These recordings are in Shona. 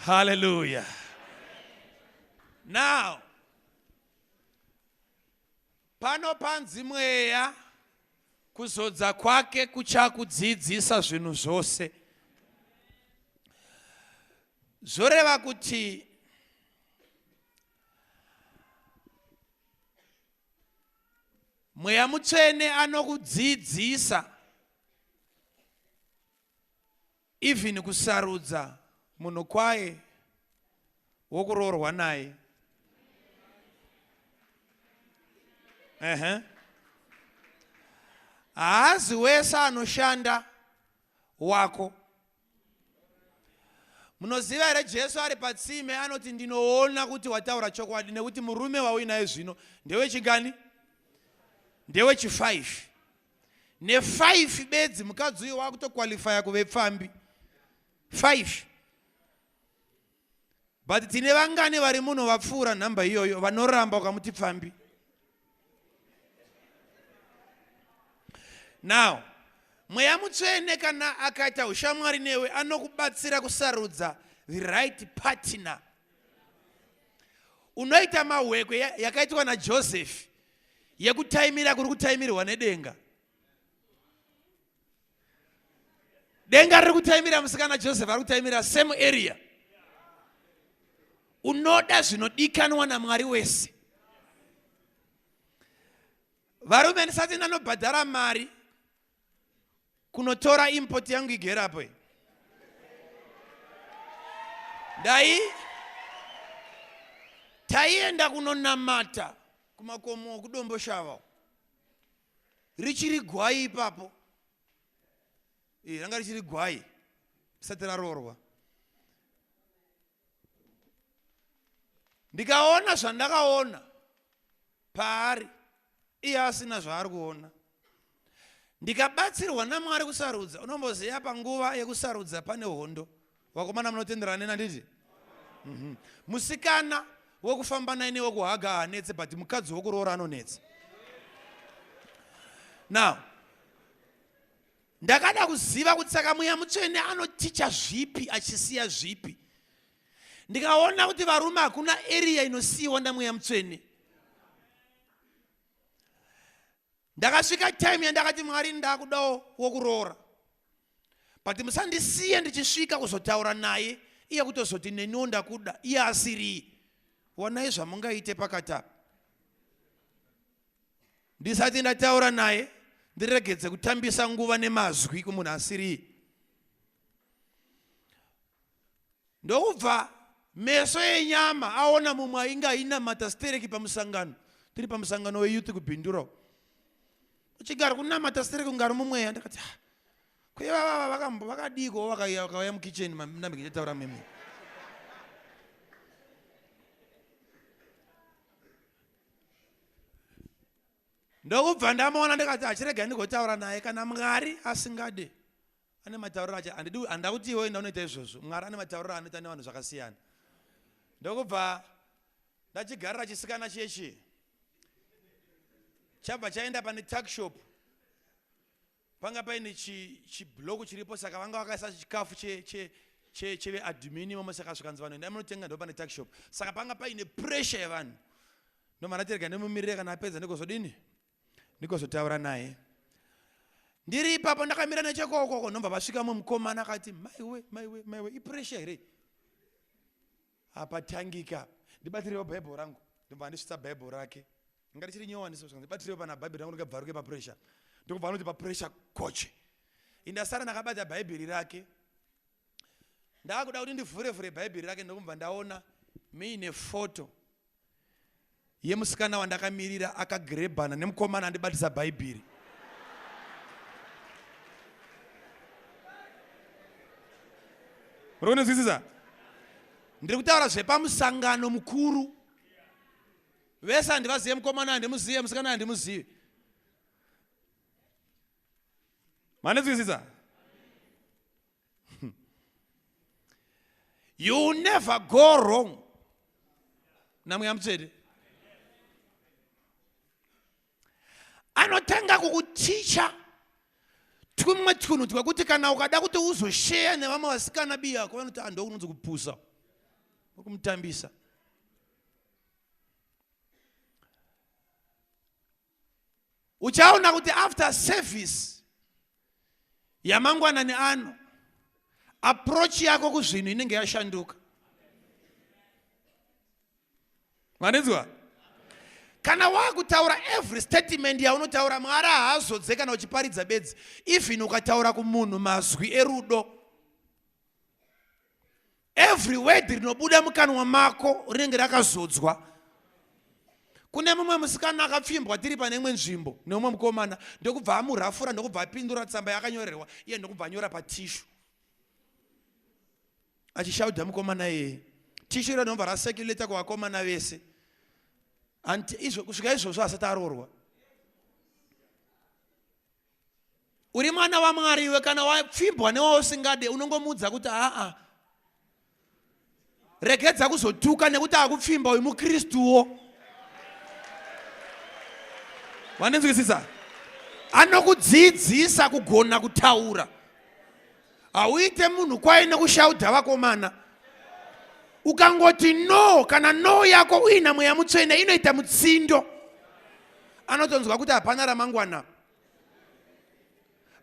Hallelujah. Now, pano panzi mweya kuzodza kwake kuchakudzidzisa zvinhu zvose zvoreva kuti mweya mutsvene anokudzidzisa even kusarudza munhu kwaye wokuroorwa naye ehe haazi wese anoshanda wako Munoziva here Jesu ari patsime anoti ndinoona kuti wataura chokwadi nekuti murume wauinaye zvino ndewechigani ndewechifive nefive bedzi mukadzi uyo wakutokwalifaya kuve pfambi five but tine vangani vari muno vapfuura nhamba iyoyo vanoramba ukamuti pfambi now mweya mutsvene kana akaita ushamwari newe anokubatsira kusarudza the right partner unoita mahwekwe yakaitwa najosefi yekutaimira kuri kutaimirwa nedenga denga riri kutaimira musikana joseph ari kutaimira same area unoda zvinodikanwa namwari wese varume ndisati ndanobhadhara mari kunotora import yangu igerapo dai taienda kunonamata kumakomo kudomboshava richiri gwai ipapo eh, ranga richiri gwai risati raroorwa ndikaona zvandakaona paari iye asina zvaari kuona ndikabatsirwa namwari kusarudza unomboziva panguva yekusarudza pane hondo Vakomana munotenderana neni handiti? Mhm. Musikana wekufamba naye newekuhaga haanetse but mukadzi wekuroora anonetsa. Now, ndakada kuziva kuti saka mweya mutsvene anoticha zvipi achisiya zvipi ndikaona kuti varume hakuna eriya inosiyiwa ndamweya mutsvene ndakasvika time yandakati mwari ndakudawo wokuroora but musandisiye ndichisvika kuzotaura naye iye kutozoti neniwo ndakuda iye asirii wonai zvamungaite pakati apa ndisati ndataura naye ndiregedze kutambisa nguva nemazwi kumunhu asirii Ndokubva meso enyama aona mumwe ainge ainamata stereki pamusangano tiri pamusangano weyouth kubhindurawo uchigara kunamata stereki kunge ari mumweya ndakati ah, kwevavava vakambo vakadiiko vakauya mukitchen nambe ndichataura mimi ndokubva ndamaona ndikati achirega ndigotaura naye kana mwari asingade Ane matauriro acha andidi andida kuti iwe enda unoita izvozvo. Mwari ane matauriro anoita nevanhu zvakasiyana. Ndokubva ndachigarira chisikana chechi. Chabva chaenda pane tuck shop. Panga paine chi chiblock chiripo saka vanga vakaisa chikafu che che che cheve admin imomo saka zvikanzi vanhu endai munotenga ndipo pane tuck shop. Saka panga paine pressure yevanhu. Ndomana terega nemumirire kana apedza ndikozodini? ndikozotaura naye ndiri ipapo ndakamira nechekokoko nobva vasvika mwe mukomana akati maiwe maiwe maiwe ipresha here apatangika ndibatirewo bhaibheri rangu ndobva andisvitsa bhaibheri rake inga richiri nyowaniso ndibatirewo pana bhaibheri rangu ndikabvaruke papresha ndokubva anoti papresha koche indasara ndakabata bhaibheri rake ndakuda kuti ndivhure vhure bhaibheri rake ndokubva ndaona muine foto yemusikana wandakamirira akagrebhana nemukomana andibatisa bhaibheri muri kunonzwisisa ndiri kutaura zvepamusangano mukuru vese handivazive mukomana handimuzive musikana handimuzive manizwisisa you never go wrong namweya mutsvete anotanga kukuticha twumwe twunhu twekuti kana ukada kuti uzosheya nevamwe vasikana biya yako vanoti ando ah, unonzi kupusa kumutambisa uchaona kuti after service yamangwanani ano approach yako kuzvinhu inenge yashanduka manizwa kana wakutaura every statement yaunotaura mwari haazodze kana uchiparidza bedzi even ukataura kumunhu mazwi erudo Every word rinobuda mukanwa mako rinenge rakazodzwa. Kune mumwe musikana akapfimbwa tiri pane imwe nzvimbo neumwe mukomana ndokubva amurafura ndokubva apindura tsamba yakanyorerwa iye ndokubva anyora patishu achishauda mukomana iyeye tishu iro rinobva raseculator kuvakomana vese hanti kusvika izvozvo asati aroorwa uri mwana wamwari iwe kana wapfimbwa newausingade unongomuudza kuti aa regedza kuzotuka nekuti akupfimba uyu mukristuwo vandinzwisisa anokudzidzisa kugona kutaura hauite munhu kwaye nekushaudha vakomana ukangoti no kana no yako uina mweya mutsvene inoita mutsindo anotonzwa kuti hapana ramangwana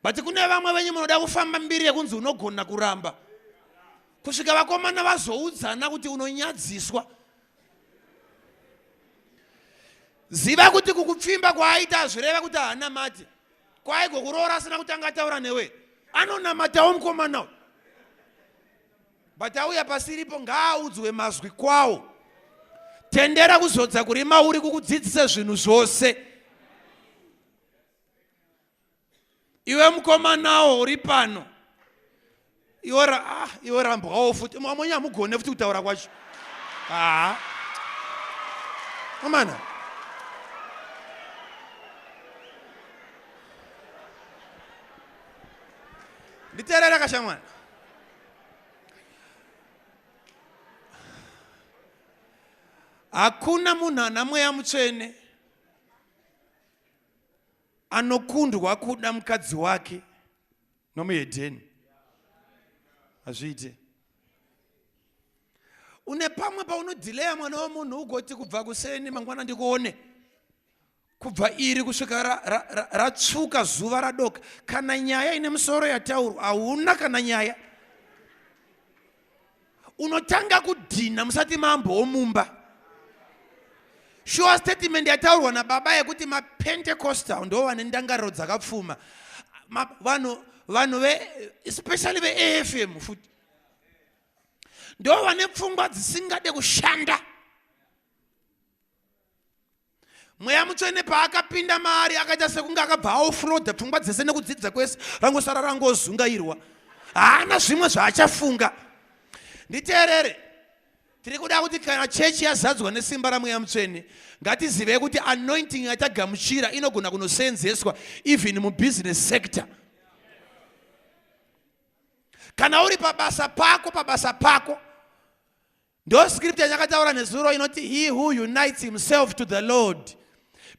but kune vamwe venyu munoda kufamba mbiri yekunzi unogona kuramba kusvika vakomana vazoudzana kuti unonyadziswa ziva kuti kukupfimba kwaaita hazvireva kuti haana mati kwaiko kuroora asina kutanga ataura newe anonamatawo mukomana uyu but auya pasiripo ngaaudzwe mazwi kwawo tendera kuzodza kuri mauri kukudzidzisa zvinhu zvose iwe mukomanawo uri pano iwe ra ah iwe rambwawo futi amwenye hamugone futi kutaura kwacho haa amana nditeerera kashamwana hakuna munhu ana mweya mutsvene anokundwa kuda mukadzi wake nomuhedheni hazviite une pamwe paunodhileya mwana wemunhu ugoti kubva kuseni mangwana ndikuone kubva iri kusvika ratsvuka ra, ra, ra zuva radoka kana nyaya ine musoro yataurwa hauna kana nyaya unotanga kudhinha musati mambo womumba shuwa statement yataurwa nababa yekuti mapentecostal ndo vane ndangariro dzakapfuma vanhu vanhu ve especially veafm futi ndo vane pfungwa dzisingade kushanda mweya mutsvene paakapinda maari akaita sekunge akabva aofroda pfungwa dzese nekudzidza kwese rangosara rangozungairwa haana zvimwe zvaachafunga nditeerere tiri kuda kuti kana chechi yazadzwa nesimba ramweya mutsvene ngatizivei kuti anointing yatagamuchira inogona kunoseenzeswa even mubusiness sector kana uri pabasa pako pabasa pako Ndo script yanyakataura nezuro inoti he who unites himself to the Lord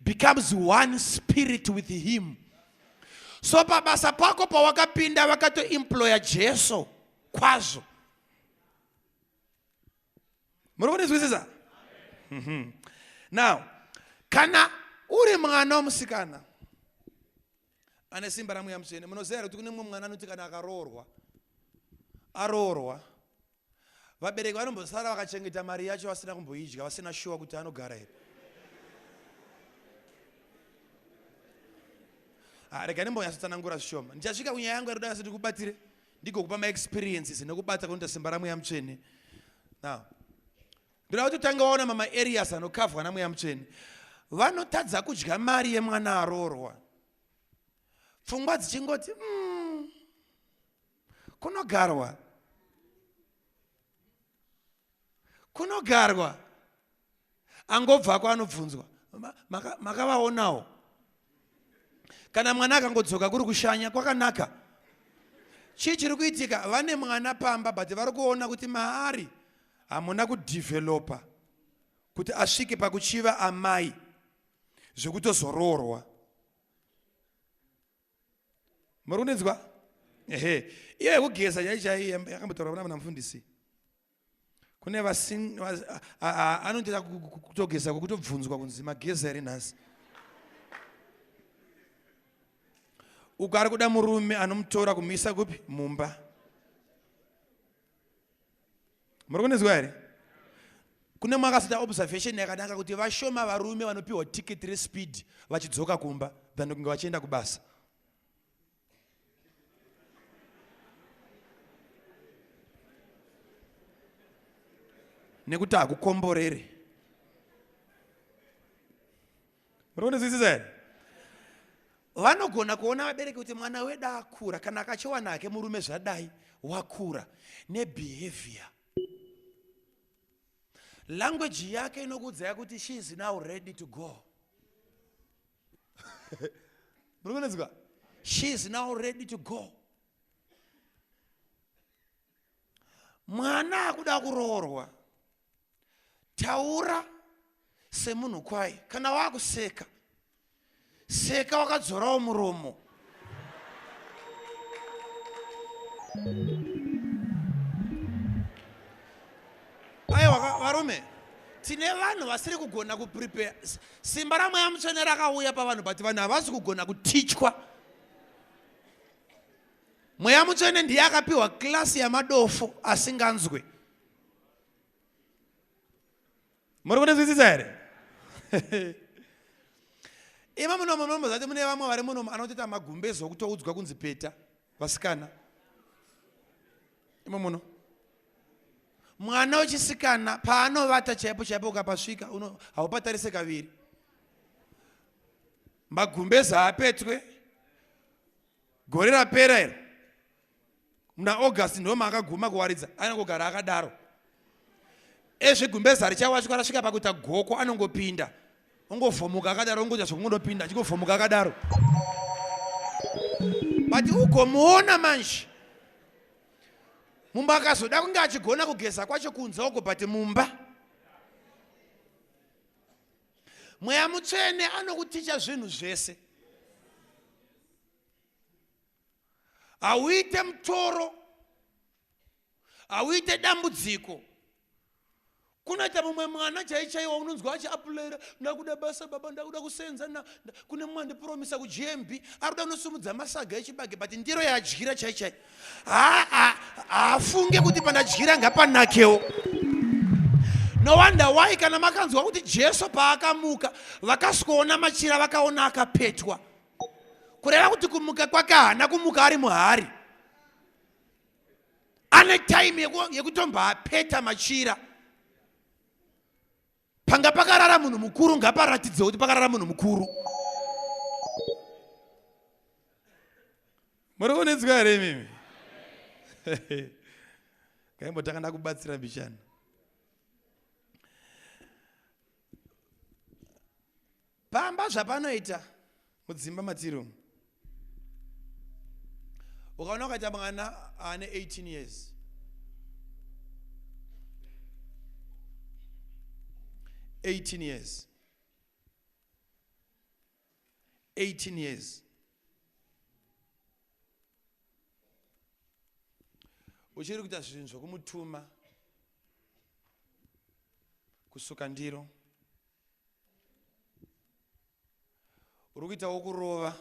becomes one spirit with him. So pabasa pako pawakapinda vakatoemploya Jesu kwazvo. Muri kundinzwisisa? Mhm. Now, kana uri mwana wemusikana ane simba ramweya mutsvene munoziva here kuti kune mumwe mwana anoti kana akaroorwa aroorwa vabereki vanombosara vakachengeta mari yacho vasina kumboidya vasina shuwa kuti anogara here ah, rega ndimbonyatsotsanangura zvishoma ndichasvika kunyaya yangu yaroda yase ndikubatire ndigokupa maexperiences nekubata kunoita simba ramweya mutsvene now ndoda kuti utange waona mama arias anokavhwa namweya mutsvene vanotadza kudya mari yemwana aroorwa pfungwa dzichingoti mm, kunogarwa kunogarwa angobvako anobvunzwa makavaonawo maka kana mwana akangodzoka kuri kushanya kwakanaka chii chiri kuitika vane mwana pamba but vari kuona kuti maari hamuna kudevelopa kuti asvike pakuchiva amai zvekutozoroorwa muri kundinzwa ehe iyo yekugeza chaichaiyo yakambotaura kuna muna mufundisi kune anondiita kutogeza kwekutobvunzwa kunzi mageza here nhasi uko ari kuda murume anomutora kumuisa kupi mumba muri kunizwa here kune mwakazoita observation yakanaka kuti vashoma varume vanopiwa tiketi respeed vachidzoka kumba than kunge vachienda kubasa nekuti hakukomborere rondizwisisa here vanogona kuona vabereki kuti mwana wedu akura kana akachiwana hake murume zvadai wakura nebehavior language yake inokuudzaya kuti she is now ready to go muri kunetswa she is now ready to go mwana akuda kuroorwa taura semunhu kwaye kana wakuseka seka wakadzorawo muromo aiwa varume tine vanhu vasiri kugona kuprepare simba ramweya mutsvene rakauya pavanhu but vanhu havasi kugona kutichwa mweya mutsvene ndiye akapiwa klasi yamadofo asinganzwe muri kundizwisisa here ima munomo munomo zati mune vamwe vari munomo anotoita magumbezo okutoudzwa kunzi peta vasikana imo muno mwana wechisikana paanovata chaipo chaipo ukapasvika haupatarise kaviri magumbeza apetwe gore rapera iro muna august ndoma akaguma kuwaridza anongogara akadaro ezvegumbeza richawachwa rasvika pakuita goko anongopinda ongovhomuka akadaro ongoita zvokungonopinda achingovhomuka akadaro but ugomuona manje mumba akazoda kunge achigona kugeza kwacho kunze uko but mumba mweya mutsvene anokuticha zvinhu zvese hauite mutoro hauite dambudziko kunoita mumwe mwana chaichaiwa unonzwa achiapulaira ndakuda basa baba ndakuda kusenza kune mumwe andipromisa kugmb ari kuda kunosumudza masaga echibage but ndiro yaadyira chaichai haafunge kuti pandadyira ngapanakewo no wonder why kana makanzwa kuti jesu paakamuka vakasikoona machira vakaona akapetwa kureva kuti kumuka kwake haana kumuka ari muhari ane time yekutombapeta machira panga pakarara munhu mukuru ngaparatidze kuti pakarara munhu mukuru muri kunetswa here imimi kaimbotanga ndakubatsira mbichana Pamba zvapanoita mudzimba matiri umu. Ukaona ukaita mwana ane 18 years. Eighteen years. 18 years uchiri kuita zvinhu zvokumutuma kusuka ndiro uri kuitawo kurova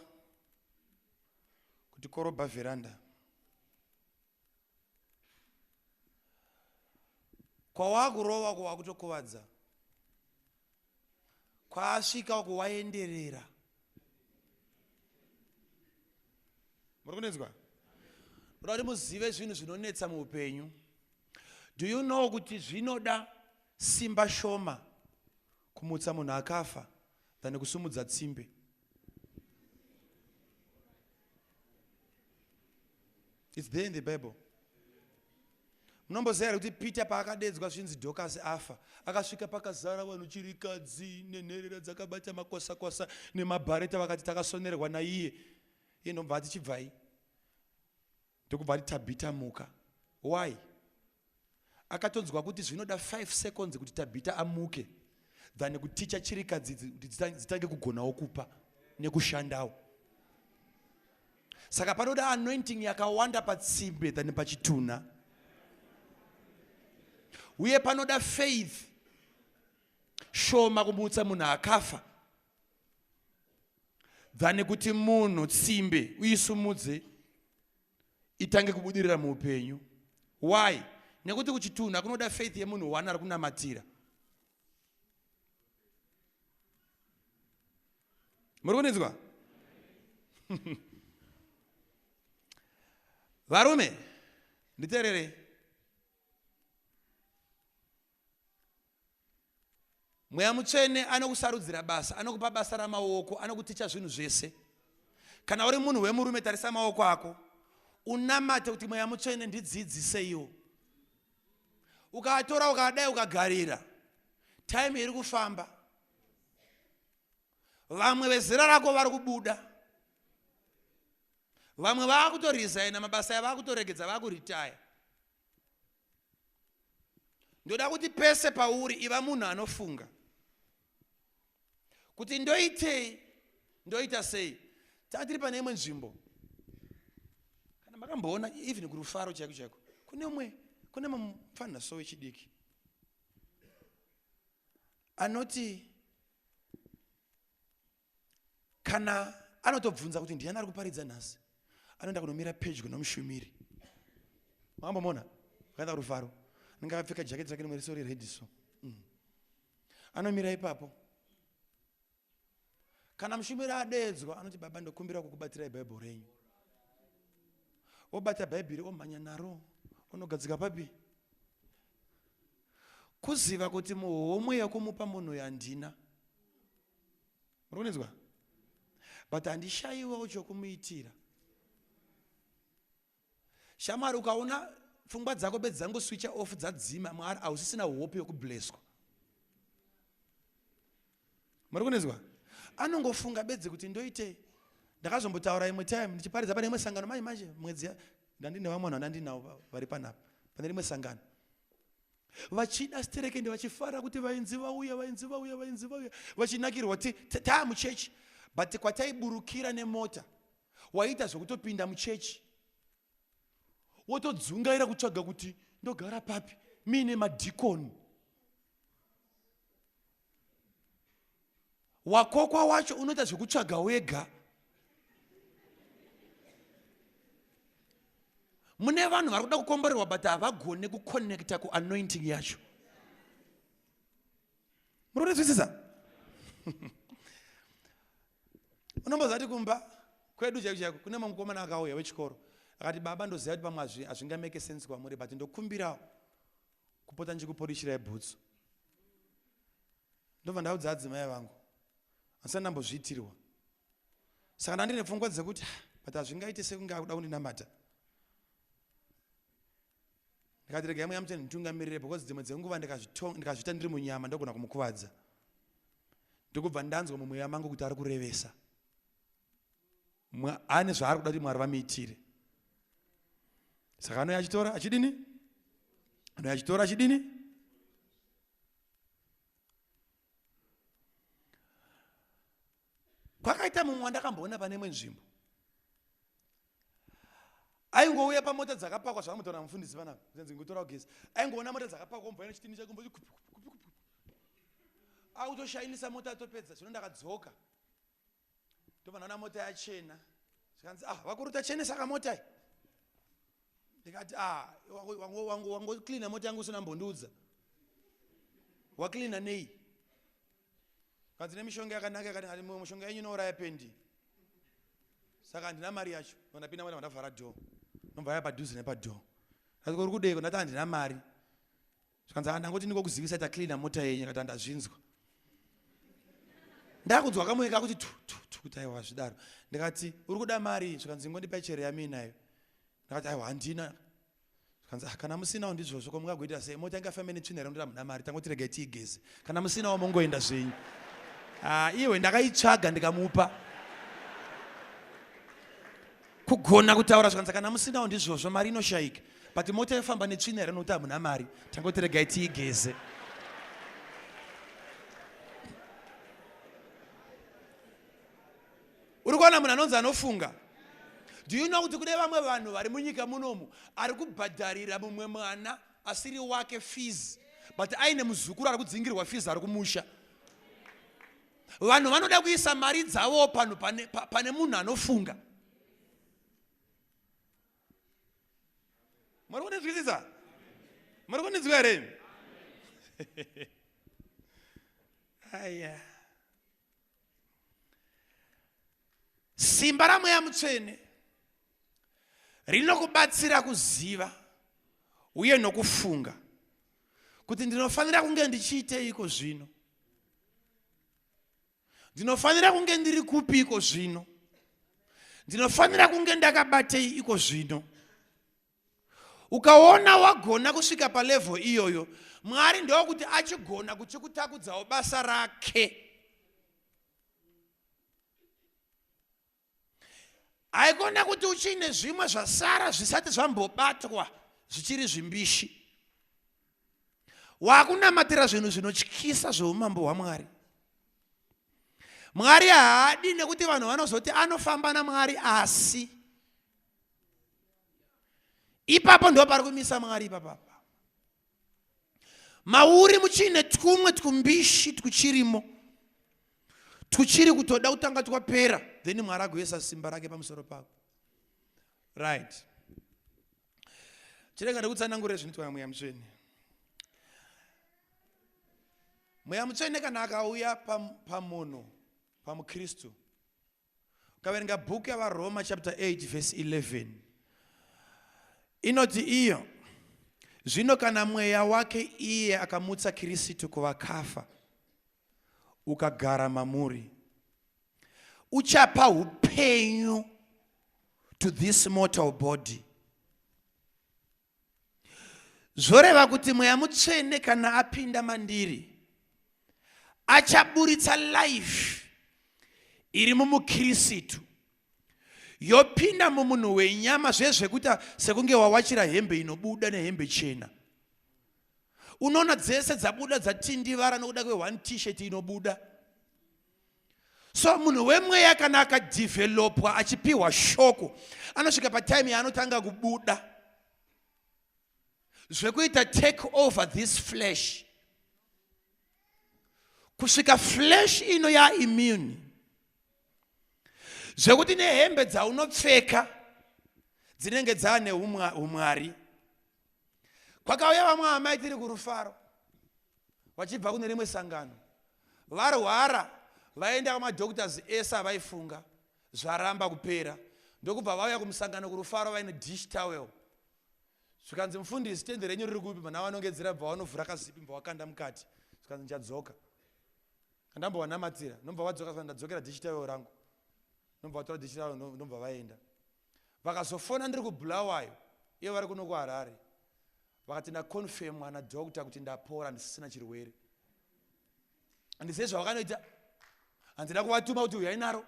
kuti korobha vheranda kwawakurova uko wakutokuvadza kwaasvika uko waenderera muri kunetswa ndoda kuti muzive zvinhu zvinonetsa muupenyu do you know kuti zvinoda simba shoma kumutsa munhu akafa than kusumudza tsimbe its there in the bible munomboziva here kuti peter paakadedzwa zvinzi dhokasi afa akasvika pakazara vanhu chirikadzi nenherera dzakabata makwasakwasa nemabhareta vakati takasonerwa naiye iye ndobva ati chibvai ndokubva ati tabhita muka why akatonzwa kuti zvinoda 5 seconds kuti tabhita amuke than kuticha chirikadzi kuti dzitange kugonawo kupa nekushandawo saka panoda anointing yakawanda patsimbe than pachitunha uye panoda faith shoma kumutsa munhu akafa than kuti munhu tsimbe uisumudze itange kubudirira muupenyu why nekuti kuchitunha kunoda faith yemunhu one ari kunamatira muri kundinzwa varume nditeererei mweya mutsvene anokusarudzira basa anokupa basa ramaoko anokuticha zvinhu zvese kana uri munhu wemurume tarisa maoko ako unamate kuti mweya mutsvene ndidzidziseiwo ukatora ukadai ukagarira time iri kufamba vamwe vezera rako vari kubuda vamwe vaakutorizaina mabasa avo akutoregedza vaakuritaya ndoda kuti pese pauri iva munhu anofunga kuti ndoitei ndoita sei taka tiri pane imwe nzvimbo kana makamboona even kurufaro chaiko chaiko kune umwe kune mupfanha so wechidiki anoti kana anotobvunza kuti ndiani ari kuparidza nhasi anoenda kunomira pedyo nomushumiri mambo mona akaenda kurufaro anenge akapfeka jaketi rake rimwe risori redi so mm. anomira ipapo kana mushumiri adeedzwa anoti baba ndokumbira kukubatsirai bhaibheri renyu obata bhaibheri omhanya naro onogadzika papi kuziva kuti muhomwe yekumupa munhu yandina murikunetswa but handishaiwawo chokumuitira shamwari ukaona pfungwa dzako bedzi dzangoswicha off dzadzima mwari hausisina hope yokubleswa muri kunetswa anongofunga bedzi kuti ndoitei ndakazombotaura imwe time ndichiparidza pane imwe sangano manje manje mwedzi ndandine vamwe vanhu vandandinawo vari panapa pane rimwe sangano vachida stereke ende vachifara kuti vainzi vauya vainzi vauya vainzi vauya vachinakirwa ti taa muchechi but kwataiburukira nemota waita zvekutopinda muchechi wotodzungaira kutsvaga kuti ndogara papi miine madhikoni wakokwa wacho unoita zvekutsvaga wega mune vanhu vari kuda kukomborerwa but havagone kuconnecta kuanointing yacho muri kunzwisisa unombozati kumba kwedu chaiko chaiko kune mamwe mukomana akauya wechikoro akati baba ndoziva kuti pamwe hazvingameke sense kwamuri but ndokumbirawo kupota ndichikuporishirai bhutsu ndobva ndaudza adzimai vangu asina ndambozviitirwa saka ndandine pfungwa dzekuti ah, but hazvingaite sekunge akuda kundinamata ndikati regai mweya mutsvene nditungamirire because dzimwe dzenguva ndikazviita ndiri munyama ndogona kumukuvadza ndokubva ndanzwa mumweya mangu kuti ari kurevesa ane zvaari kuda kuti mwari vamuitire saka anouya achitora achidini anouya achitora achidini kwakaita mumwe wandakamboona pane imwe nzvimbo aingouya pamota dzakapakwa zvakamutora mufundisi panapa zenzi ngutora ugesi aingoona mota dzakapakwa omboaina chitini chake ombokupi kupi kupi kupi akutoshainisa mota atopedza zvino ndakadzoka ndobva ndaona mota yachena zvikanzi ah vakuru tachenesa kamota iyi ndikati ah wangocleana mota yangu usina mbondiudza wacleana nei kanzi nemishonga yakanaka yakati mushonga yenyu inouraya pendi saka handina mari yacho vandapinda mota vandavhara door ndomva yaya padhuze nepadhoo asi kuri kudeiko ndati handina mari zvikanzi ah, ndangoti ndingokuzivisa ita cleana mota yenyu akati andazvinzwa ndakunzwa kamoyo kakuti tu tu tu kuti aiwa zvidaro ndikati uri kuda mari zvikanzi ngondipa chere yaminayo ndakati aiwa handina zvikanzi ah, kana musinawo ndizvozvo ko mungagoita sei mota inga famene tsvina here mndira muna mari tangoti regai tiigeze kana musinawo mongoenda zvenyu ah, iwe ndakaitsvaga ndikamupa kugona kutaura zvikanzi kana musinawo ndizvozvo mari inoshayika but mota yofamba netsvina here nokuti hamuna mari tangoti regai tiigeze uri kuona munhu anonzi anofunga do you know kuti kune vamwe vanhu vari munyika munomu ari kubhadharira mumwe mwana asiri wake fees but aine muzukuru ari kudzingirwa fees ari kumusha vanhu vanoda kuisa mari dzavo panhu pane, pane munhu anofunga muri kundinzwisisa muri kundinzwa here aya simba ramweya mutsvene rinokubatsira kuziva uye nokufunga kuti ndinofanira kunge ndichiiteiko zvino Ndinofanira kunge ndiri kupi iko zvino? Ndinofanira kunge ndakabatei iko zvino? Ukaona wagona kusvika palevel iyoyo, Mwari ndokuti achigona kuchikutakudzawo basa rake. haikona kuti uchiine zvimwe zvasara zvisati zvambobatwa zvichiri zvimbishi wakunamatira zvinhu zvinotyisa zveumambo hwamwari mwari haadi nekuti vanhu vanozoti anofamba namwari asi ipapo ndo pari kumisa mwari ipapapa mauri muchiine twumwe twumbishi twuchirimo twuchiri kutoda kutanga twapera then mwari agoisa simba rake pamusoro pako right chirega ndikutsanangurira zvinoitwa namweya mutsvene mweya mutsvene kana akauya pamunhu pamukristu Ukaverenga bhuku yavaroma chapter 8 verse 11 inoti iyo zvino kana mweya wake iye akamutsa kirisitu kuvakafa ukagara mamuri uchapa upenyu to this mortal body Zvoreva kuti mweya mutsvene kana apinda mandiri achaburitsa life iri mumukirisitu yopinda mumunhu wenyama zvezvekuita sekunge wawachira hembe inobuda nehembe chena unoona dzese dzabuda dzatindivara nokuda kwe one t-shirt inobuda so munhu wemweya kana akadhivhelopwa achipiwa shoko anosvika patime yaanotanga kubuda zvekuita take over this flesh kusvika flesh ino yaimmune zvekuti nehembe dzaunopfeka dzinenge dzaane umwari kwakauya vamwe amai tiri kurufaro vachibva kune rimwe sangano varwara vaenda kwamadoctors ese avaifunga zvaramba kupera ndokubva vauya kumusangano kurufaro vaine dish towel zvikanzi mufundisi tende renyu riri kupi mana vanongedzera bva vanovhura kazipi bva vakanda mukati zvikanzi ndichadzoka kandambovanamatira nobva vadzoka ndadzokera dish towel rangu nobva vatora dish towel nobva vaenda Vakazofona ndiri kuBulawayo ivo vari kuno kuHarare vakati ndaconfirmwa nadoctor kuti ndapora ndisisina chirwere. Handizive zvavakanoita, handina kuvatuma kuti uyai naro.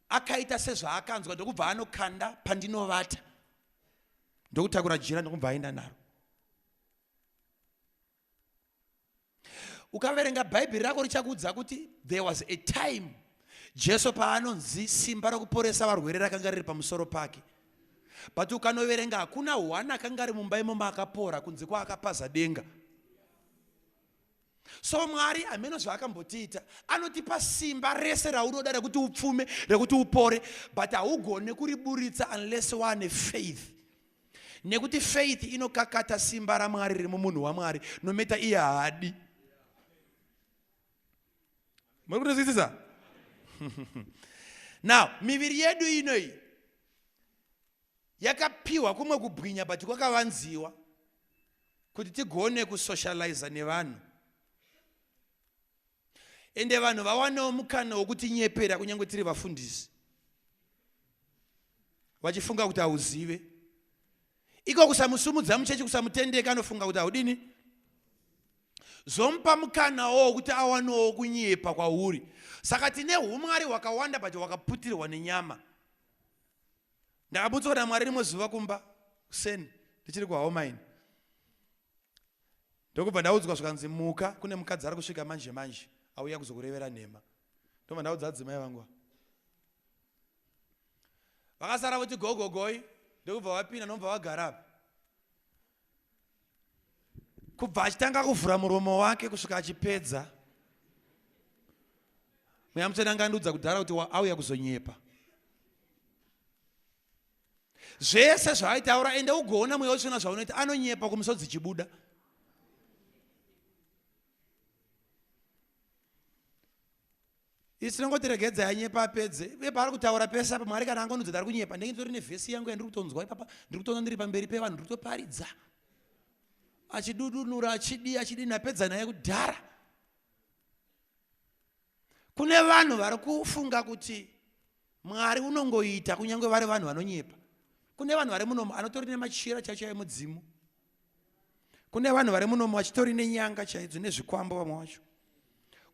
Akaita sezvaakanzwa ndokubva anokanda pandinovata ndokutakura jira ndokubva aenda naro. ukaverenga bhaibheri rako richakuudza kuti there was a time jesu paanonzi simba rokuporesa varwere rakanga riri pamusoro pake but ukanoverenga hakuna hwana akanga ari mumba imomo akapora kunze kwaakapaza denga so mwari hameno zvaakambotiita anotipa simba rese raunoda rekuti upfume rekuti upore but haugone kuriburitsa unless waane faith Nekuti faith inokakata simba raMwari riri mumunhu waMwari nometa iye haadi. Muri kutozwisisa? Now, miviri yedu inoyi yakapiwa kumwe kubwinya but kwakavanziwa kuti tigone kusocializa nevanhu ende vanhu vawanewo mukana wokutinyepera kunyange tiri vafundisi vachifunga kuti hauzive iko kusamusumudza muchechi kusamutendeka anofunga kuti haudini zvomupa mukanawo wokuti awanowo kunyepa kwauri saka tine umwari hwakawanda but hwakaputirwa nenyama ndakabutswa namwari rimwe zuva kumba kuseni ndichiri kuhomaini ndokubva ndaudzwa zvikanzi muka kune mukadzi ari kusvika manje manje auya kuzokurevera nhema ndobva ndaudza adzimai vangu vakasara voti gogogoi ndokubva vapinda nobva vagara apa kubva achitanga kuvhura muromo wake kusvika achipedza mweya mutsvene anga andiudza kudhara kuti auya kuzonyepa zvese zvaaitaura ende ugoona mweya wetsvena zvaunoita anonyepa kumusodzi chibuda Isi tinongoti regedza yanyepa apedze uye paari kutaura pese apa mwari kana angonudza tari kunyepa ndenge nditori nevhesi yangu yandiri kutonzwa ipapa ndiri kutoona ndiri pamberi pevanhu ndiri kutoparidza achidudunura achidii achidii napedza naye kudhara kune vanhu vari kufunga kuti mwari unongoita kunyange vari vanhu vanonyepa kune vanhu vari munomo anotori nemachira chacho emudzimu kune vanhu vari munomo vachitori nenyanga chaidzo nezvikwambo vamwe vacho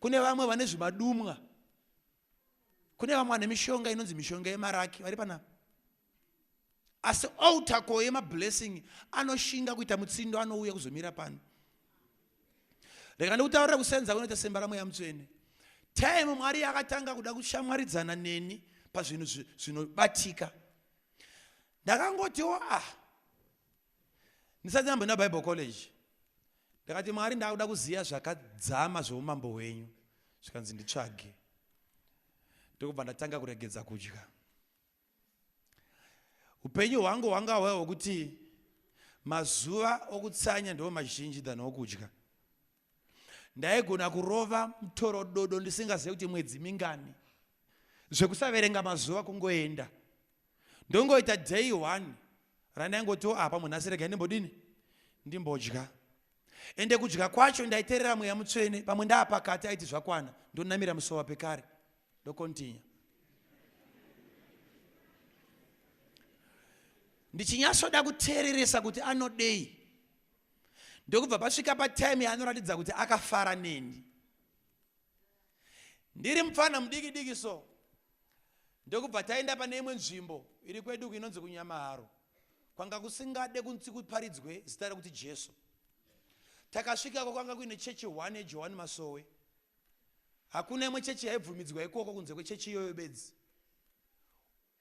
kune vamwe vane zvimadumwa kune vamwe vane mishonga inonzi mishonga yemaraki vari panapa asi alter ko yemablessing anoshinga kuita mutsindo anouya kuzomira pano rega ndikutaurira kusenza kunoita semba ramweya mutsvene time mwari yakatanga kuda kushamwaridzana neni pazvinhu zvinobatika ndakangotiwo ah ndisati ndamboenda bible college ndakati mwari ndakuda kuziva zvakadzama zveumambo hwenyu zvikanzi nditsvage ndokubva ndatanga kuregedza kudya upenyu hwangu hwanga hwehwekuti mazuva okutsanya ndiwo mazhinji than okudya Ndaigona kurova mutorododo ndisingazive kuti mwedzi mingani. Zvekusaverenga mazuva kungoenda. Ndongoita day one randaingotiwo apa munhu asirega ndimbodini ndimbodya. Ende kudya kwacho ndaiterera mweya mutsvene pamwe ndaapakati aiti zvakwana ndonamira musova pekare ndokontinya. Ndichinyasoda kuteereresa kuti anodei ndokubva pasvika patime yaanoratidza kuti akafara neni ndiri mupfana mudiki diki so ndokubva taenda pane imwe nzvimbo iri kwedu uku inonzi kunyamaharo kwanga kusingade kunzi kuparidzwe zita rekuti jesu takasvikako kwanga kuine chechi one yejohani masowe hakuna imwe chechi yaibvumidzwa ikoko kunze kwechechi iyoyo bedzi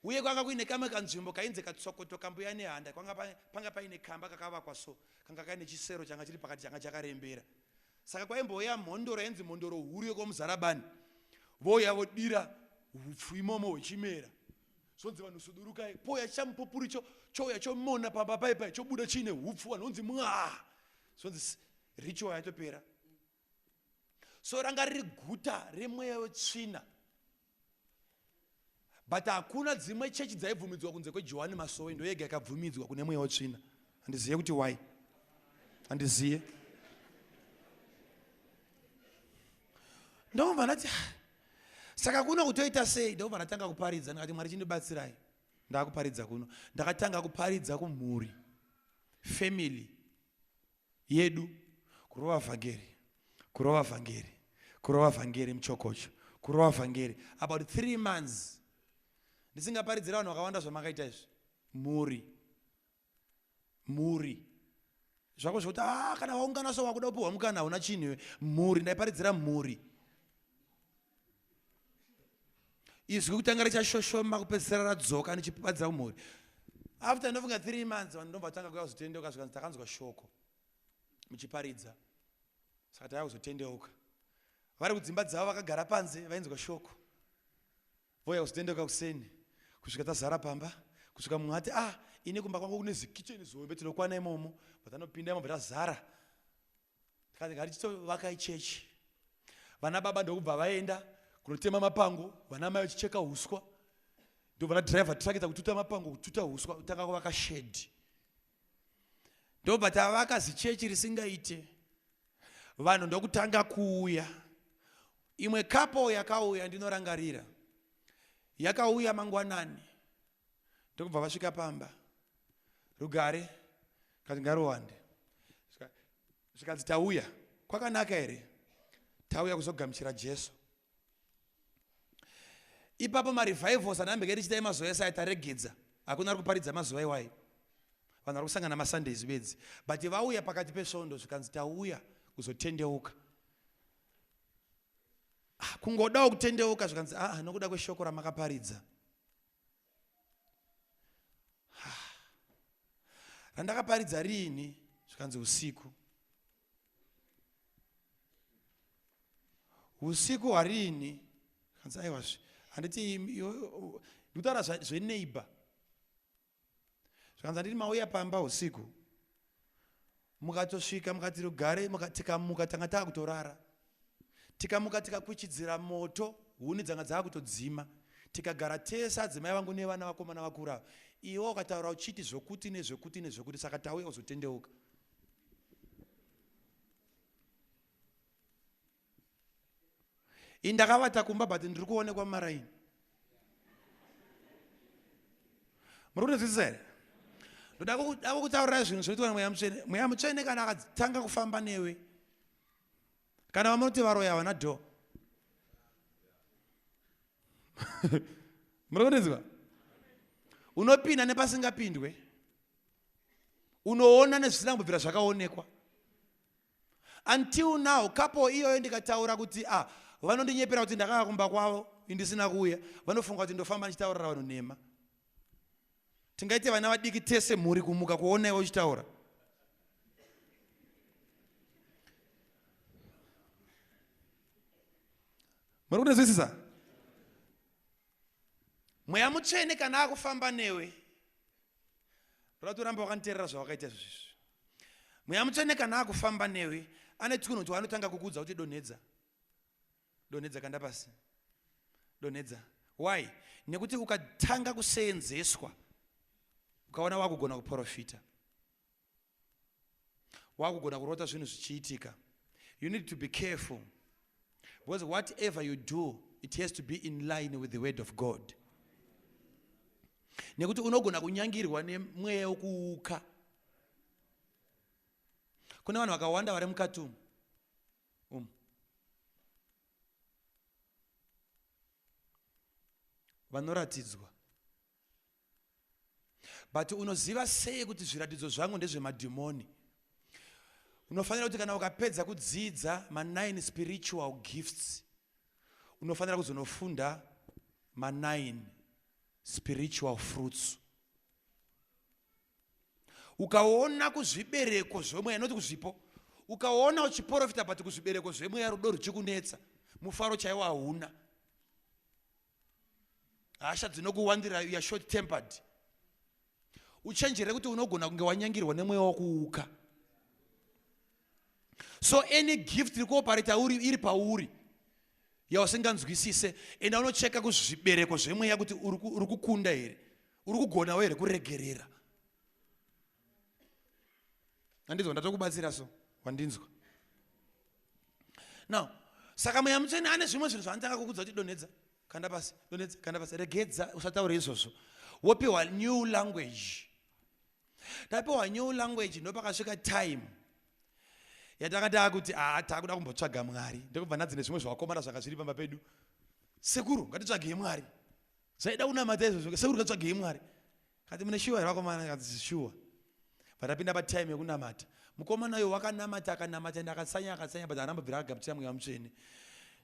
Uye kwanga kuine kamwe kanzvimbo kainzi katsokoto kambuya nehanda, kwanga panga paine kamba kakavakwa so, kanga kaine chisero changa chiri pakati changa chakarembera. Saka kwaimbouya mhondoro yainzi mhondoro huru yekwaMuzarabani, vouya vodira hupfu imomo hwechimera, zvonzi vanhu sudurukai, pouya chamupupuri cho, chouya chomona pamba paipai, chobuda chiine hupfu, vanhu vonzi mwaa, zvonzi ritual yaitopera. so ranga riri guta remweya wetsvina but hakuna dzimwe chechi dzaibvumidzwa kunze kwejohani masowe ndo yega ikabvumidzwa kune mweya wetsvina handizive kuti why handizive ndobva ndati ah, saka kuno kutoita sei ndobva ndatanga kuparidza ndikati mwari chindibatsirai ndakuparidza kuno ndakatanga kuparidza kumhuri family yedu kurova vhangeri kurova vhangeri kurova vhangeri muchokocho kurova vhangeri about three months ndisingaparidzira vanhu vakawanda zvamakaita izvi mhuri mhuri zvako zvekuti a ah, kana waungana so wakuda kupiwa mukana hauna chinhu iwe mhuri ndaiparidzira mhuri izwi kutanga richashoshoma kupedzisira radzoka ndichipapadza kumhuri after ndofunga three months vanhu ndobva tanga kuya kuzotendeuka zvikanzi takanzwa shoko muchiparidza saka tava kuzotendeuka vari kudzimba dzavo vakagara panze vainzwa shoko vouya kuzotendeuka kuseni kusvika tazara pamba kusvika mumwe ati ah ini kumba kwangu kune zikicheni zihombe tinokwana imomo but anopinda imomo tazara Tikati ngatichitovaka ichechi. Vana baba ndokubva vaenda kunotema mapango, vana mai vachicheka huswa. Ndovana driver tirakidza kututa mapango, kututa huswa, kutanga kuvaka shedhi. Ndobva tavaka zichechi risingaite. Vanhu ndokutanga kuuya. Imwe kapo yakauya ndinorangarira. Yakauya mangwanani. ndokubva vasvika pamba rugare zvikanzi ngaruwande zvikanzi tauya kwakanaka here tauya kuzogamuchira jesu ipapo marevivals anambeka tichita emazuva ese aitaregedza hakuna ari kuparidza mazuva iwayo vanhu vari kusangana masundays bedzi but vauya pakati pesvondo zvikanzi tauya kuzotendeuka ah, kungodawo kutendeuka zvikanzi aa ah, nokuda kweshoko ramakaparidza randakaparidza riini zvikanzi usiku usiku hwariini zvikanzi aiwazve handiti ndikutaura zveneighbor zvikanzi handiti mauya pamba usiku mukatosvika mukati rugare tikamuka tanga taa kutorara tikamuka tikakuchidzira moto huni dzanga dzava kutodzima tikagara tese adzimai vangu nevana vakomana vakura iwe ukataura uchiti zvokuti nezvekuti nezvekuti saka tauya uzotendeuka ini ndakavata kumba but ndiri kuonekwa mumaraini muri kunonzwisisa here ndoda kutaurira zvinhu zvinoitwa nemweya mutsvene mweya mutsvene kana akatanga kufamba newe kana vamunoti varoya havana dho muri kundinzwa unopinda nepasingapindwe unoona nezvisina kumbobvira zvakaonekwa Until now couple iyoyo ndikataura kuti ah vanondinyepera kuti ndakanga kumba kwavo ndisina kuuya vanofunga kuti ndofamba ndichitaurira vanhu nhema. Tingaite vana vadiki tese mhuri kumuka kuona iwe uchitaura. Muri kunzwisisa? Mweya mutsvene kana akufamba newe Rwatu ramba wakanterera zvawakaita zvizvi. mweya mutsvene kana akufamba newe ane tsuno kuti wanotanga kukuudza kuti donhedza donhedza kanda pasi donhedza why nekuti ukatanga kuseenzeswa ukaona wakugona kuprofita wakugona kurota zvinhu zvichiitika you need to be careful because whatever you do it has to be in line with the word of god nekuti unogona kunyangirwa nemweya wekuuka kune vanhu vakawanda vari mukati umu um. vanoratidzwa but unoziva sei kuti zviratidzo zvangu ndezvemadhimoni unofanira kuti kana ukapedza kudzidza manine spiritual gifts unofanira kuzonofunda manine spiritual fruits ukaona kuzvibereko zvemweya noti kuzvipo ukaona uchiporofita but kuzvibereko zvemweya rudo ruchikunetsa mufaro chaiwo hauna hasha dzinokuwandira uya short tempered uchenjere kuti unogona kunge wanyangirwa nemweya wakuuka so any gift iri kuopareta uri iri pauri yausinganzwisise enda unocheka kuzvibereko zvemweya kuti uri kukunda here uri kugonawo here kuregerera andinzwa ndatokubatsira so wandinzwa now saka mweya mutsvene ane zvimwe zvinhu zvaanotanga kukudza kuti donhedza kanda pasi donhedza kanda pasi regedza usataure izvozvo wopiwa new language tapiwa new language ndopakasvika time yatanga taakuti aa ah, taakuda kumbotsvaga mwari ndokubva nadzi nezvimwe zvevakomana zvanga zviri pamba pedu sekuru ngatitsvagei mwari zvaida kunamata izvozvo sekuru ngatsvagei mwari kati mune shuwa here vakomana kati shuwa vatapinda patime yekunamata mukomana uyo wakanamata akanamata ende akasanya akasanya but anambobvira akagabutira mweya mutsvene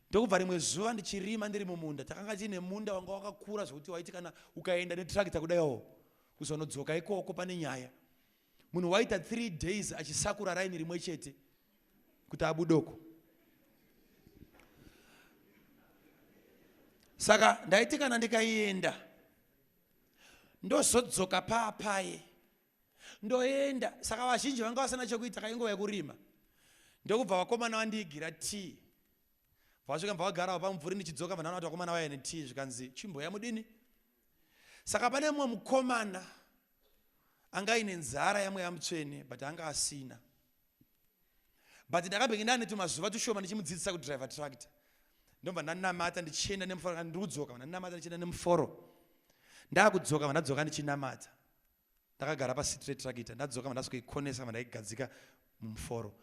ndokubva rimwe zuva ndichirima ndiri mumunda takanga tiine munda wanga wakakura zvekuti waiti kana ukaenda netrakita kudaiwo Kuzonodzoka ikoko pane nyaya. Munhu waita three days achisakura raini rimwe chete kuti abudoko. Saka ndaiti kana ndikaienda ndozodzoka paapaye ndoenda. Saka vazhinji vanga vasina chekuita kainguva yekurima ndokubva vakomana vandiigira tii vasvika mva vagarawo pamumvuri ndichidzoka vanhu vanoti vakomana vaya netii zvikanzi chimboya mudini saka pane mumwe mukomana anga aine nzara yamweya mutsvene but anga asina but ndakabenge ndane tumazuva tushoma ndichimudzidzisa kudriver tractor ndobva ndanamata ndichienda nemuforo ndikudzoka vandanamata ndichienda nemuforo ndakudzoka vandadzoka ndichinamata ndakagara pasit retractor ndadzoka mandasvikoikonesa mandaigadzika mumuforo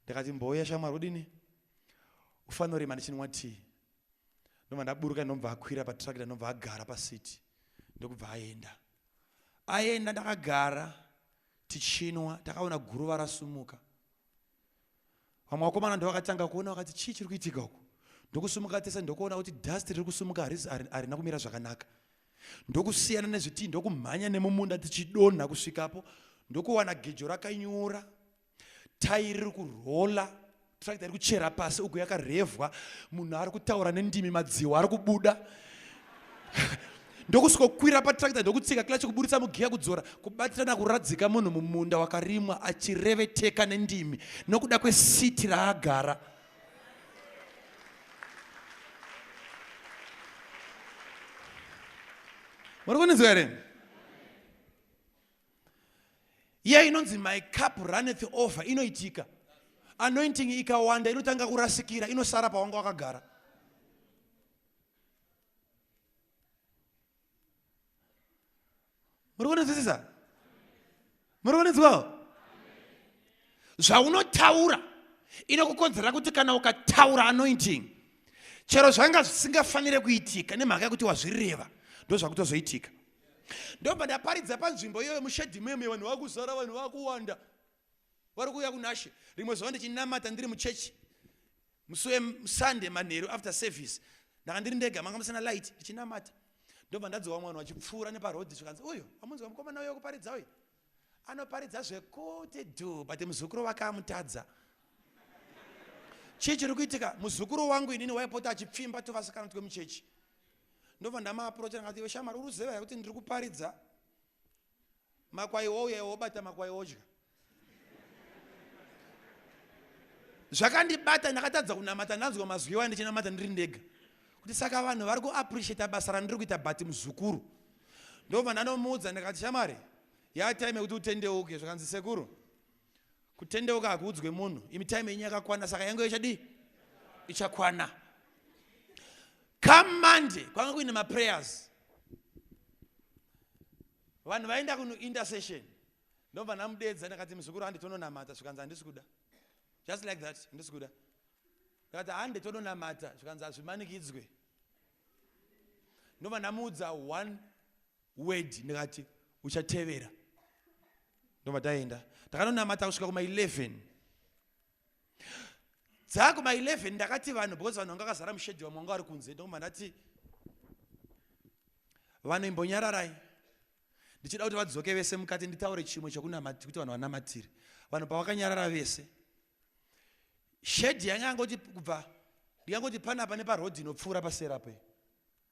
ndikati mbouya shamwari udini ufanorima ndichinwa tii ndobva ndaburuka ndinobva akwira patractor ndobva agara pasiti ndokubva aenda aenda ndakagara tichinwa takaona guruva rasumuka vamwe vakomana ndovakatanga kuona vakati chii chiri kuitika uku ndokusimuka tese ndokuona kuti dust riri kusimuka harina kumira zvakanaka ndokusiyana nezvitii ndokumhanya nemumunda tichidonha kusvikapo ndokuwana gejo rakanyura tai riri kurola trakta iri kuchera pasi uku yakarevwa munhu ari kutaura nendimi madziwa ari kubuda ndokusvikokwira patrakita ndokutsika kila chekuburitsa mugiya kudzora kubatirana kuradzika munhu mumunda wakarimwa achireveteka nendimi nokuda kwesiti raagara muri kunizwa here iya inonzi my cup runneth over inoitika anointing ikawanda inotanga kurasikira inosara pawanga wakagara muri kunzwisisa muri kunzwawo zvaunotaura inokukonzera kuti kana ukataura anointing chero zvanga zvisingafanire kuitika nemhaka yekuti wazvireva ndozvakutozoitika ndobva ndaparidza panzvimbo iyoyo mushedhi meme vanhu vakuzara vanhu vakuwanda vari kuuya kunashe rimwe zuva ndichinamata ndiri muchechi musi wesunday manheru after service ndaka ndiri ndega manga musina light ndichinamata ndobva ndadzowa mwana wachipfuura neparodhi zvikanzi uyu amunzwa mukomana uyo kuparidza uyu anoparidza zvekuti du but muzukuru wake amutadza chii chiri kuitika muzukuru wangu inini waipota achipfimba tuvasikana twemuchechi ndobva ndamaaprocha ndakati iwe shamari uri kuziva kuti ndiri kuparidza Makwai ouya iwe wobata makwai odya. Zvakandibata ndakatadza kunamata ndanzwa mazwi iwayo ndichinamata ndiri ndega. Kuti saka vanhu vari ku appreciate basa randiri kuita but muzukuru. Ndobva ndanomuudza ndikati shamwari ya time yekuti utendeuke zvakanzi sekuru kutendeuka hakuudzwe munhu imi time yenyu yakakwana saka yangu ichadii ichakwana come monday kwanga kuine maprayers Vanhu vaenda kunu intercession ndobva ndamudeedza ndakati muzukuru hande tononamata zvikanzi handisi kuda just like that handisi kuda ndakati hande tononamata zvikanzi hazvimanikidzwe ndobva ndamuudza one word ndikati uchatevera ndobva taenda takanonamata kusvika kuma 11 dzakuma 11 ndakati vanhu because vanhu vanga vakazara mushedhi vamwe vanga vari kunze ndokuma ndati vanhu imbonyararai ndichida kuti vadzoke vese mukati nditaure chimwe chekunamati kuti vanhu vanamatire vanhu pavakanyarara vese shedhi yanga yangoti kubva ndikangoti panapa neparodhi inopfuura paserape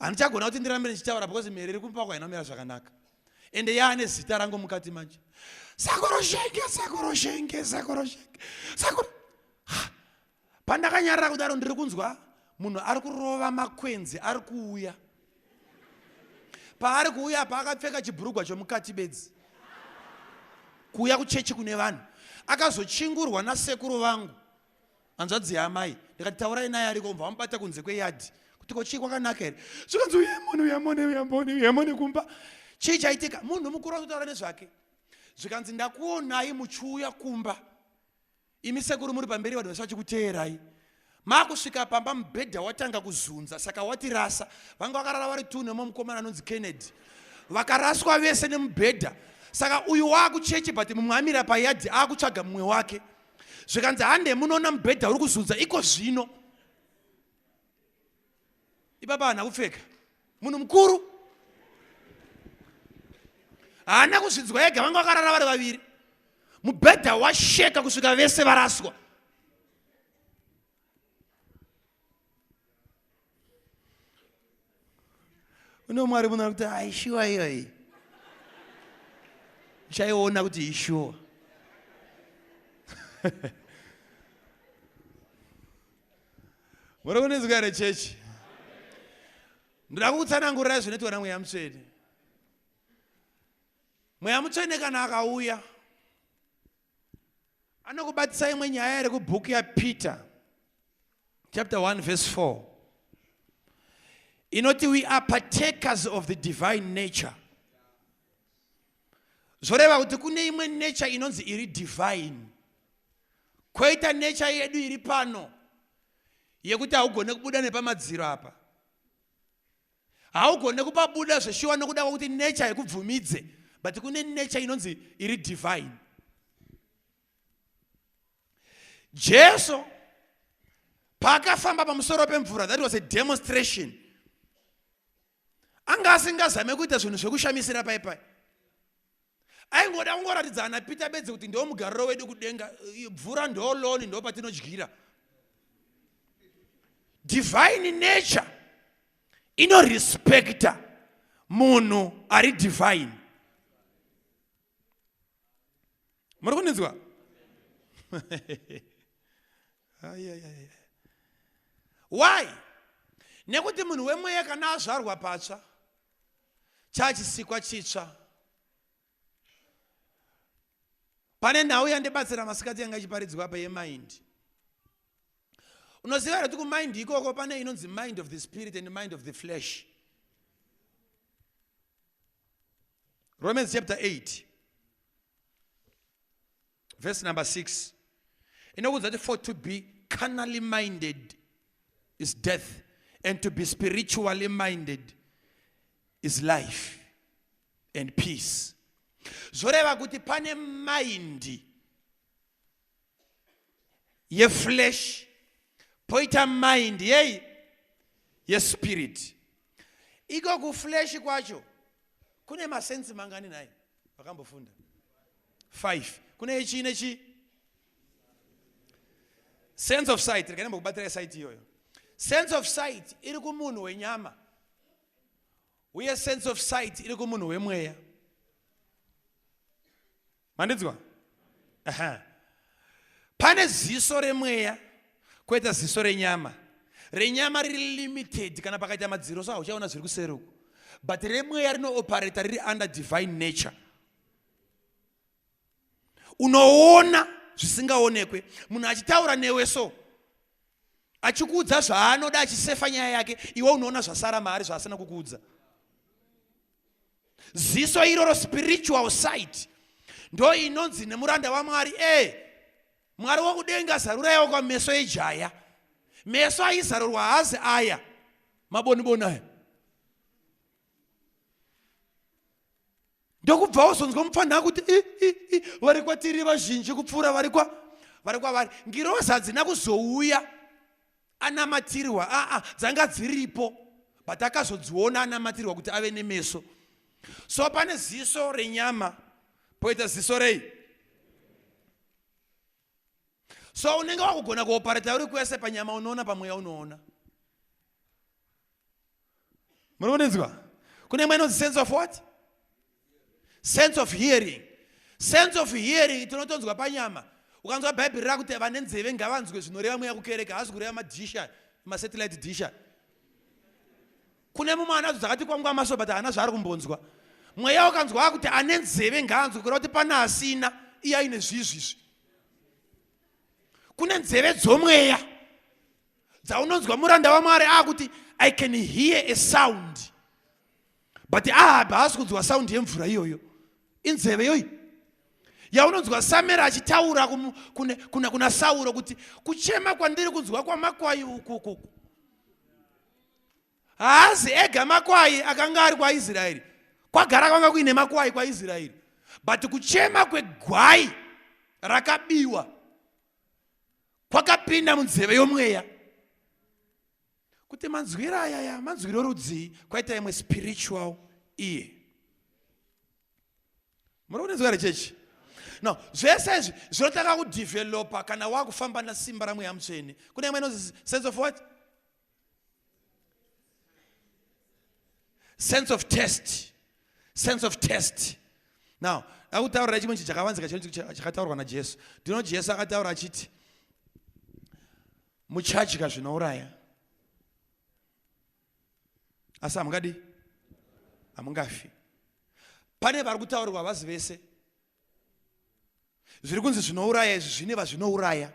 handichagona kuti ndirambe ndichitaura because mhere iri kumupako haina kumira zvakanaka ende yaane zita rangu mukati manje sakoroshenge sakoroshenge sakoroshenge sakor pandakanyarira kudaro ndiri kunzwa munhu ari kurova makwenzi ari kuuya paari kuuya paakapfeka chibhurugwa chomukati bedzi kuuya kuchechi kune vanhu akazochingurwa nasekuru vangu hanzvadzi yaamai ndikati taurai naye ariko mva wamubata kunze kweyadhi kuti ko chii kwakanaka here zvikanzi uyamone uyamone uyamone uyamone kumba chii chaitika munhu mukuru atotaura nezvake zvikanzi ndakuonai muchiuya kumba imi sekuru muri pamberi vanhu vese vachikuteerai makusvika pamba mubhedha watanga kuzunza saka watirasa vanga vakarara vari tu nemo mukomana anonzi kennedy vakaraswa vese nemubhedha saka uyu waakucheche but mumwe amira payadhi akutsvaga mumwe wake zvikanzi hande munoona mubhedha uri kuzunza iko zvino ipapa hana kupfeka munhu mukuru haana kuzvinzwa ega vanga vakarara vari vaviri mubhedha washeka kusvika vese varaswa une umwe ari munoona kuti aishuwa ah, iyoyi chaiona kuti ishuwa muri kunizwa here chechi ndoda kukutsanangurirai zvinoitwa namweya mutsvene mweya mutsvene kana akauya anokubatisa imwe nyaya iri kubhuku yapeter chapter 1 verse 4 inoti we are partakers of the divine nature zvoreva kuti kune imwe nature inonzi iri divine kwoita nature yedu iri pano yekuti haugone kubuda nepamadziro apa haugone kupabuda zveshuwa nokuda kwakuti nature haikubvumidze but kune nature inonzi iri divine jesu paakafamba pamusoro pemvura that was a demonstration anga asingazame kuita zvinhu zvekushamisira paipai Aingoda kungoratidza ana Peter bedzi kuti ndiwo mugariro wedu kudenga, bvura ndo loan ndo patinodyira. Divine nature ino respecta munhu ari divine. Muri kundinzwa? Why? Nekuti munhu wemweya kana azvarwa patsva chachisikwa chitsva pane nhau yandibatsira masikati yanga ichiparidzwa apa yemind unoziva here kuti kumind ikoko pane inonzi mind of the spirit and mind of the flesh romans chapter 8 Verse number 6. Inokuudza kuti for to be carnally minded is death and to be spiritually minded is life and peace. Zvoreva kuti pane mind yeflesh poita mind yei yespirit Iko kuflesh kwacho kune masensi mangani nhai vakambofunda 5 kune chii nechii sense of sight rega nembokubatira sight iyoyo sense of sight iri kumunhu wenyama uye sense of sight iri kumunhu wemweya mandinzwa Aha. pane ziso remweya koita ziso renyama renyama riri limited kana pakaita madziro so hauchaona zviri kuseri uku but remweya rinooparata riri under divine nature unoona zvisingaonekwe munhu achitaura newe so achikuudza zvaanoda achisefa nyaya yake iwe unoona zvasara maari zvaasina kukuudza ziso iroro spiritual site ndo inonzi nemuranda wamwari e mwari wokudenga zaruraiwo kwameso ejaya meso aizarurwa hazi aya maboniboni aya ndokubva wozonzwa mupfanha akuti vari kwatiri vazhinji kupfuura vari kwa vari kwavari ngirozi hadzina kuzouya anamatirwa aa dzanga dziripo but akazodziona anamatirwa kuti ave nemeso so pane ziso renyama poita ziso rei so unenge wakugona kuopareta uri kwese panyama unoona pamweya unoona muri kundinzwa kune mwe inonzi sense of what sense of hearing sense of hearing tinotonzwa panyama ukanzwa bhaibheri rakuti vane nzeve ngavanzwe zvinoreva mweya kukereka hazi kureva madisha masatellite disha kune mumwe anadzo dzakati kwangu amaso but haana zvaari kumbonzwa mweya ukanzwa akuti ane nzeve ngaanzwe kureva kuti pane asina iye aine zvizvizvi kune nzeve dzomweya dzaunonzwa muranda wamwari akuti i can hear a sound but ahabhi ah, haasi kunzwa sound yemvura iyoyo inzeve yoyi yaunonzwa samera achitaura kuna, kuna, kuna sauro kuti kuchema kwandiri kunzwa kwamakwai ukukuku haazi ega makwai akanga ari kwaisraeri kwagara kwanga kuine makwai kwaisraeri but kuchema kwegwai rakabiwa kwakapinda munzeve yomweya kuti manzwiro ayaya manzwiro rudzii kwaita imwe spiritual iye muri kunenzwa here chechi no zvese izvi zvinotanga kudevelopa kana wakufamba nasimba ramweya mutsvene kune imwe inonzi sense of what sense of test sense of test now akutaurira chimwe chi chakavanzika chakataurwa najesu ndinoti jesu akataura achiti muchadya zvinouraya asi hamungadi hamungafi pane vari kutaurirwa havazi vese zviri kunzi zvinouraya izvi zvine vazvinouraya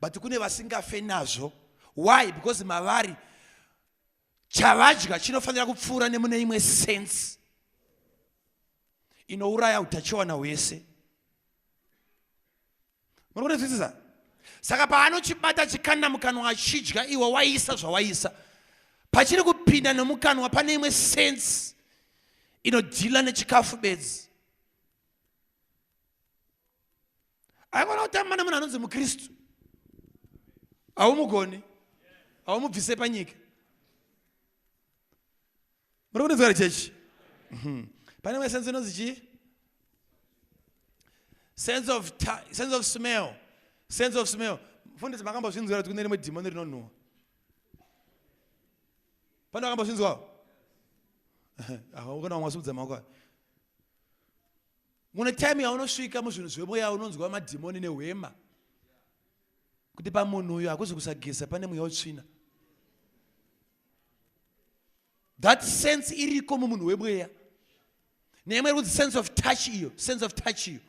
but kune vasingafe nazvo why because mavari chavadya chinofanira kupfuura nemune imwe sense inouraya utachiwana hwese muri kunzwisisa saka paanochibata chikanda mukanwa achidya iwe waisa zvawaisa pachiri kupinda nomukanwa pane imwe sense inodhila nechikafu bedzi aigona kutamba nemunhu anonzi mukristu haumugoni haumubvise panyika muri kunonzwa ri chechi mhm. pane imwe sense inonzi chii sense of sense of smell sense of smell mfundisi makambozvinzwira kuti kune rimwe dhimoni rinonhuwa pane vakambozvinzwawo ahukona vamwe vasubudza maoko ayo mune time yaunosvika muzvinhu zvemweya unonzwa madhimoni nehwema kuti pamunhu uyu hakuzi kusageza pane mweya utsvina that sense iriko mumunhu wemweya neimwe kuti sense of touch iyo sense of touch iyo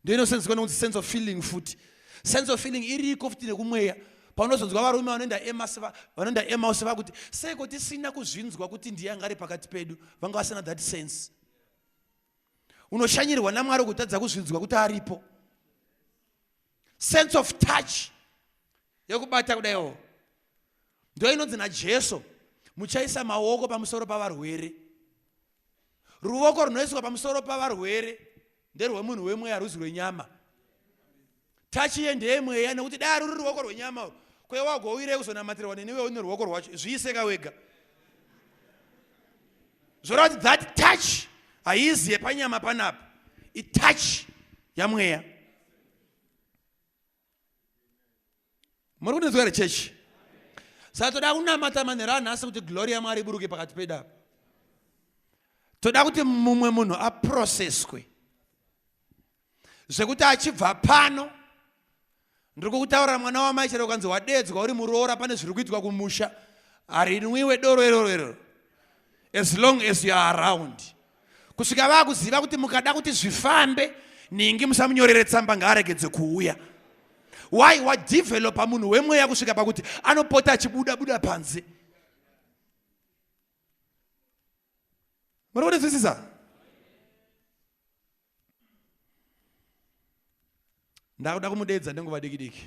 ndoinosanzikwa nokunzi sense of feeling futi sense of feeling iriko futi nekumweya paunozonzwa varume vanoenda emas vanoenda emaus vakuti seiko tisina kuzvinzwa kuti ndiye anga ari pakati pedu vanga vasina that sense unoshanyirwa namwari kutadza kuzvinzwa kuti aripo sense of touch yekubata kudaiwo ndo inonzi najesu muchaisa maoko pamusoro pavarwere ruvoko runoiswa pamusoro pavarwere nderwemunhu wemweya haruzi rwenyama tachi iye ndeyemweya nekuti dai ruri ruoko rwenyama uru kwe wagouyirei kuzonamatirwa neniwe une ruoko rwacho zviiseka wega zvoreva kuti that touch haizi yepanyama panapa itouch yamweya muri kundinzwa here chechi saka toda kunamata manhero anhasi kuti glori yamwari iburuke pakati pedu apa toda kuti mumwe munhu aproseswe zvekuti achibva pano ndiri kukutaurira mwana wamai chero ukanzi wadeedzwa uri muroora pane zviri kuitwa kumusha harinwiwe doro iroro iroro as long as youare around kusvika vakuziva kuti mukada kuti zvifambe ningi musamunyorere tsamba ngaaregedze kuuya why wadevelopa munhu wemweya kusvika pakuti anopota achibuda buda panze muri kunzwisisa ndakuda kumudeedza nenguva diki diki